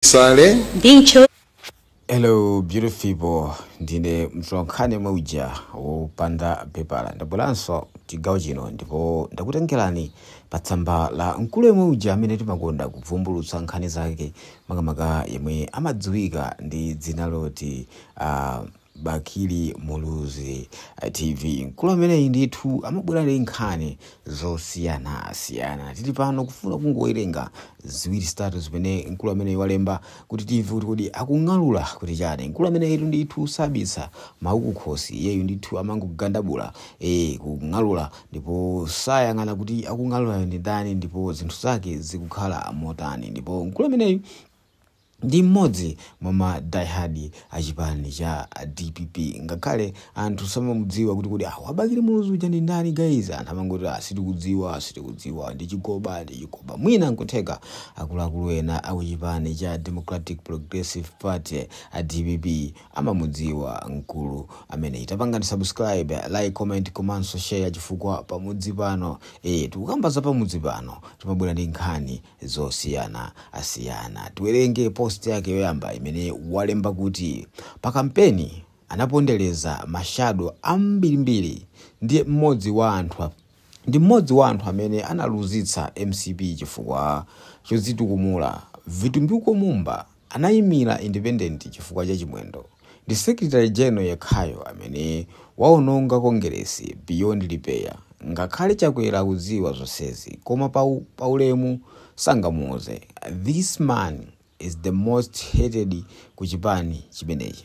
sale ndi ntcho Hello beautiful people, ndine mtolankhani yemwe uja wopanda pepala ndabweranso chigawo chino ndipo ndakutengerani pa tsamba la mkulu yemwe uja amene timakonda kuvumbulutsa nkhani zake makamaka yemwe amadziwika ndi dzina loti uh, Bakili Muluzi TV mkulu ameneyi ndithu amabwera ndi nkhani zosiyanasiyana. Tili pano kufuna kungowerenga ziwiri zitatu zimene mkulu ameneyi walemba kuti timve kuti kodi akung'alula kuti chani. Mkulu ameneyitu ndithu sabisa mawu kukhosi, iyeyu ndithu amangogandabula, ee kung'alula ndipo sayang'ana kuti akung'alulayo ndi ndani ndipo zinthu zake zikukhala motani. Ndipo mkulu ameneyi ndi mmodzi mwa ma die hard a chipani cha dpp ngakhale anthu samamudziwa kuti kodi awa Bakili Muluzi uja ndi ndani guys anthu amangoti ah sitikudziwa sitikudziwa ndi chigoba ndi chigoba mwina nkutheka akuluakulu ena a ku chipani cha Democratic Progressive Party a dpp amamudziwa mkulu ameneyi tapangani subscribe like comment komanso share chifukwa pamudzi pano eh tikukamba za pamudzi pano timabwera ndi nkhani zosiyana asiyana. Tiwerenge post yake yoyamba imene walemba kuti pa kampeni anapondereza mashado ambirimbiri ndi mmodzi wa anthu a- ndi mmodzi wa anthu amene analuzitsa mcp chifukwa chodzitukumula vitumbiko mumba Anaimira independent chifukwa cha chimwendo. Ndi secretary general yekhayo amene waononga kongeresi beyond repair. Ngakhale chakwera akudziwa zonsezi koma pa pa ulemu sangamuuze. This man is the most hated ku chipani chimenechi.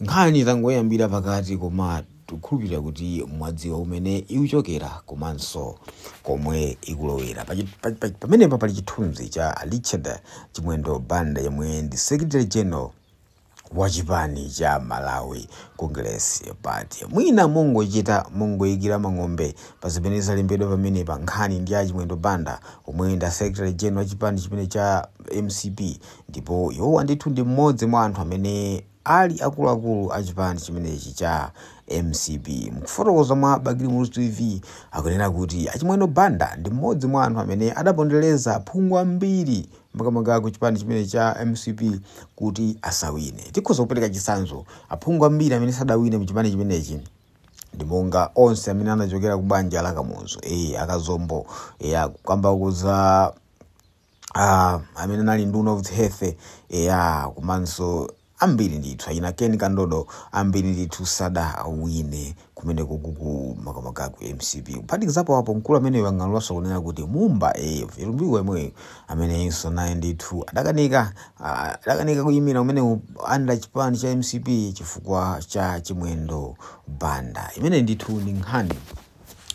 Nkhani tangoyambira pakati koma tikukhulupirira kuti mwadziwa kumene ikuchokera komanso komwe ikulowera. Pachi- pa- pa- Pamenepa pali chithunzi cha a Richard Chimwendo Banda yemwe ndi Secretary General wa chipani cha Malawi Congress Party. Mwina mongochita mongoyikira mang'ombe pa zimene zalembedwa pamenepa nkhani ndi a Chimwendo Banda omwe ndi a Secretary General wa chipani chimene cha mcp ndipo iwowa ndithu ndi mmodzi mwa anthu amene Ali akuluakulu a chipani chimenechi cha mcp mkufotokoza mwa Bakili Muluzi TV akunena kuti achimwendo Banda ndi mmodzi mwa anthu amene adapondeleza aphungu ambiri makamaka ku chipani chimenechi cha mcp kuti asawine. Tikhoza kupeleka chitsanzo aphungu ambiri amene sadawine mu chipani chimenechi ndi monga onse amene anachokera ku banja la Kamuzu, ee akazombo, eya kukamba za. amene anali nduna of health eya komanso ambiri ndithu achina ken kandodo ambiri ndithu sadawine kumene kukuku makamaka ku mcp kuphatikizapo apo mkulu ameneyu wang'alulanso kunena kuti mumba eya Vitumbiko yemweyo amene iyenso naye ndithu adakanika ah, adakanika kuyimira kumene under chipani cha mcp chifukwa cha chimwendo banda imene ndithu ndi nkhani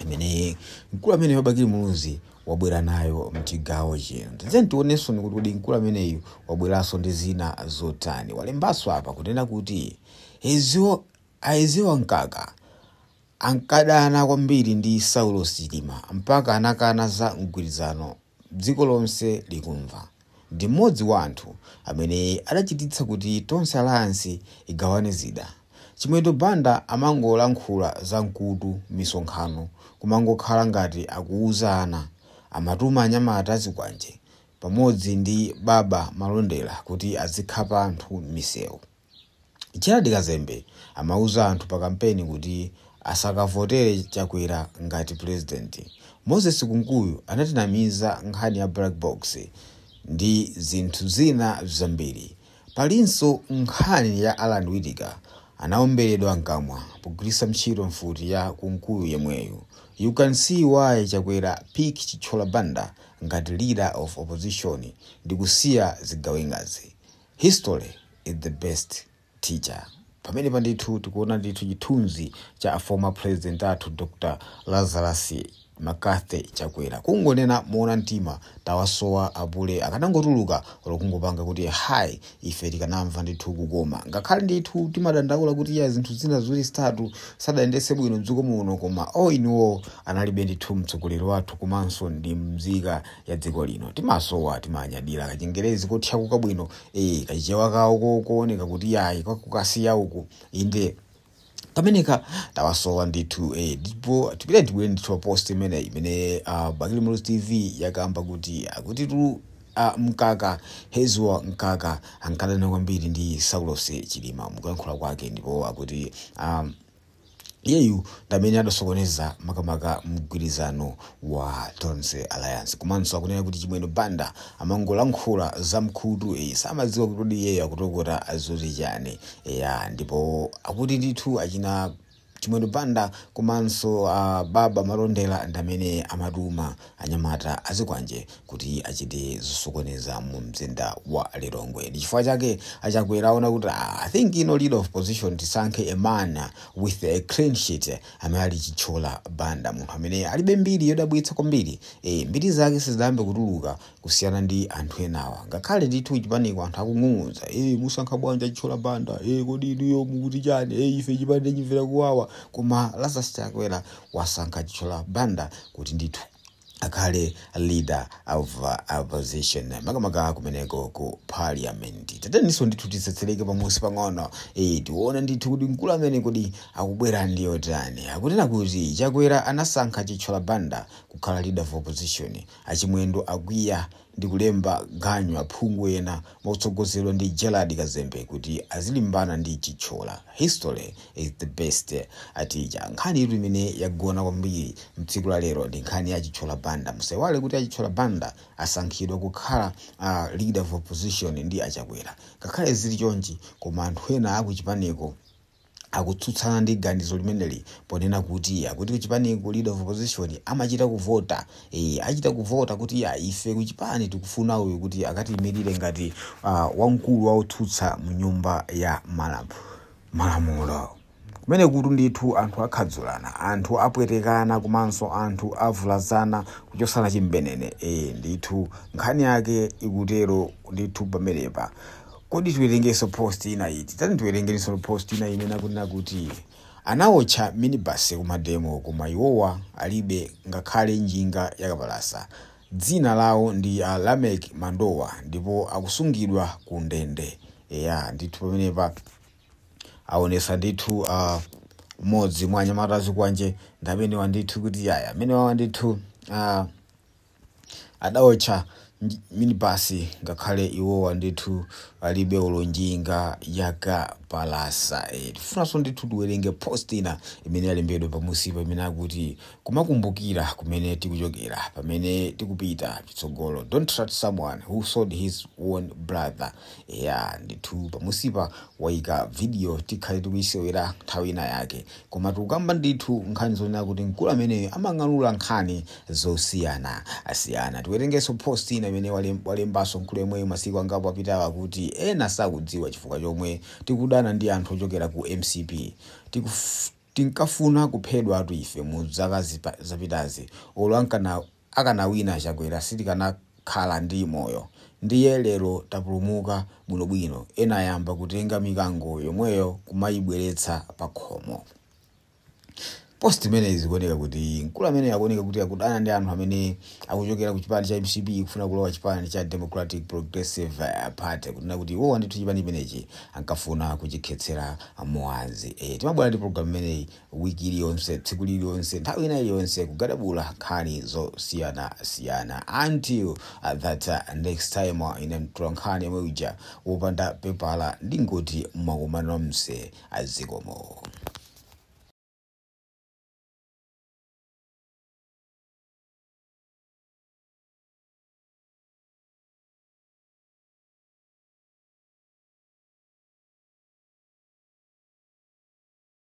imene mkulu ameneyu wa Bakili muluzi wabwera nayo mchigawo chino. Tatiyeni tionenso kuti kodi mkulu ameneyu wabweranso ndi zina zotani. Walembanso apa kunena kuti Eisen, a Eisenhower Mkaka ankadana kwambiri ndi Saulos Chilima mpaka anakana za mgwirizano dziko lonse likumva. ndi mmodzi wa anthu amene adachititsa kuti Tonse Alliance igawane zida. Chimwendo Banda amangolankhula m'misonkhano zamkutu misonkhano kumangokhala ngati akuuza ana. Amatuma anyamata azikwanje pamodzi ndi Baba Malondera kuti azikhapa anthu m'misewu. Gerald Kazembe amauza anthu pa kampeni kuti asakavotere Chakwera ngati president. Moses Kunkuyu anatinamiza nkhani ya black box ndi zinthu zina zambiri. Palinso nkhani ya Allan Witika anaomberedwa mkamwa pogwiritsa ntchito mfuti ya Kunkuyu yemweyu. You can see why Chakwera pick Chithyola Banda ngati leader of opposition ndi kusiya zigawengazi. History is the best teacher. Pamenepa ndithu tikuona ndithu chithunzi cha a former president athu Dr Lazarus McCarthy Chakwera. Kungonena moona mtima tawasowa apule akanangotuluka olo kungopanga kuti hi ife tikanamva ndithu kukoma. Ngakhale ndithu timadandaula kuti ya zinthu zina ziwiri zitatu sadayendetse bwino mdziko muno koma all in all anali be ndithu mtsogoleri wathu komanso ndi mzika ya dziko lino timasowa timanyadira kachingerezi kothyakuka bwino eh kachichewa kawo ko- kooneka kuti yayi kakuKasiya uku inde kameneka tawasowa ndithu eh, ndipo tipita tibwere ndithu post imene imene uh, bakili muluzi tv yakamba kuti akuti tu uh, mkaka eisenhower mkaka ankadana kwambiri ndi saulos chilima mukuyankhula kwake ndipo akuti um, iyeyu ndamene adasokoneza makamaka mgwirizano wa Tonse Alliance komanso akunena kuti Chimwendo Banda amangolankhula zamkutu eyi samadziwa kuti kodi iyeyo akutokota zoti chani eya ndipo akuti ndithu achina Chimwendo Banda komanso a Baba Malondera ndamene amatuma anyamata azikwanje kuti achite zosokoneza mu mzinda wa lilongwe ndi chifukwa chake achakwera aona kuti ah, i think leader of opposition tisankhe a man with a clean sheet amene ali chitchola banda munthu amene alibe mbiri yodabwitsa kwambiri e, mbiri zake sizidayambe kutuluka kusiyana ndi anthu enawa ngakhale ndithu chipaniko anthu akung'ung'udza e, musankha bwanji chitchola banda e, kodi inuyo mukuti chani e, ife chipani tichimvera kuwawa koma lazarus chakwera wasankha Chithyola Banda kuti ndithu akhale leader of opposition makamaka kumeneko ku parliament. Tatiyeninso ndithu titsetsereke pamusi pang'ono eh, tione ndithu kuti mkulu amene kodi akubwera ndi otani. Akunena kuti Chakwera anasankha Chithyola Banda kukhala leader of opposition, achimwendo akwiya ndi kulemba ganyu aphungu ena motsogozedwa ndi Gerald Kazembe kuti azilimbana ndi Chithyola. History is the best teacher. Nkhanitu imene yagona kwambiri m'tsiku la lero ndi nkhani ya Chithyola Banda. Musaiwale kuti a Chithyola Banda asankhidwa kukhala leader of opposition ndi a Chakwera. Ngakhale zili chonchi koma anthu ena akuchipaniko. akutsutsana ndi ganizo limeneli ponena kuti akuti kuchipaniko leader of opposition amachita kuvota e, achita kuvota kuti ya ife kuchipani tikufuna uyu kuti akatiyimirire ngati uh, wamkulu wa otsutsa mu nyumba ya malam, malamulo kumenekotu ndithu anthu akhadzulana anthu apwetekana komanso anthu avulazana kuchotsana chimbenene e, ndithu nkhani yake ikutero ndithu pamenepa Kodi tiwerengenso post ina iti? Tati tiwerengenso post ina imene akunena kuti anawotcha minibus kumademo koma iwowa alibe ngakhale njinga yakapalasa. Dzina lawo ndi a Lameck Mandowa ndipo akusungidwa ku ndende. Eya, ndithu pamenepa awonesa ndithu mmodzi mwa anyamata azikwanje ndi amenewa ndithu kuti yaya amenewawa ndithu a Adaotcha minibus ngakhale iwowa ndithu alibe olo njinga yakapalasa ee tifunanso ndithu tiwerenge post ina imene yalembedwa pamusipa imene akuti kumakumbukira kumene tikuchokera pamene tikupita chitsogolo don't trust someone who sold his own brother Eya ndithu pamusipa waika video tikhale tikuyisewera nthawi ina yake koma tikukamba ndithu nkhani zonena kuti mkulu ameneyo amang'alula nkhani zosiyanasiyana tiwerengeso post ina imene walem- walembaso mkulu yemweyo masiku angapo apitawa kuti ena sakudziwa chifukwa chomwe tikudana ndi anthu ochokera ku mcp Tikuf- tinkafuna kuphedwatu ife mu zaka zipa- zapitazi olo ankana akanawina a Chakwera sitikanakhala ndi moyo ndiye lero tapulumuka bwinobwino ena ayamba kutenga mikango yomweyo kumayibweretsa pakhomo post imeneyi zikuoneka kuti mkulu ameneyo akuoneka kuti akudana ndi anthu amene akuchokera ku chipani cha mcp kufuna kulowa chipani cha democratic progressive eh, party kunena kuti iwowa ndithu chipani chimenechi ankafuna kuchikhetsera mwazi eh, timabwera ndi program imeneyi wiki iliyonse tsiku lililonse nthawi ina iliyonse kugadabula nkhani zosiyanasiyana until uh, that uh, next time uh, ine mtulankhani yomwe uja wopanda pepala ndingoti mwakumana nomse azikomo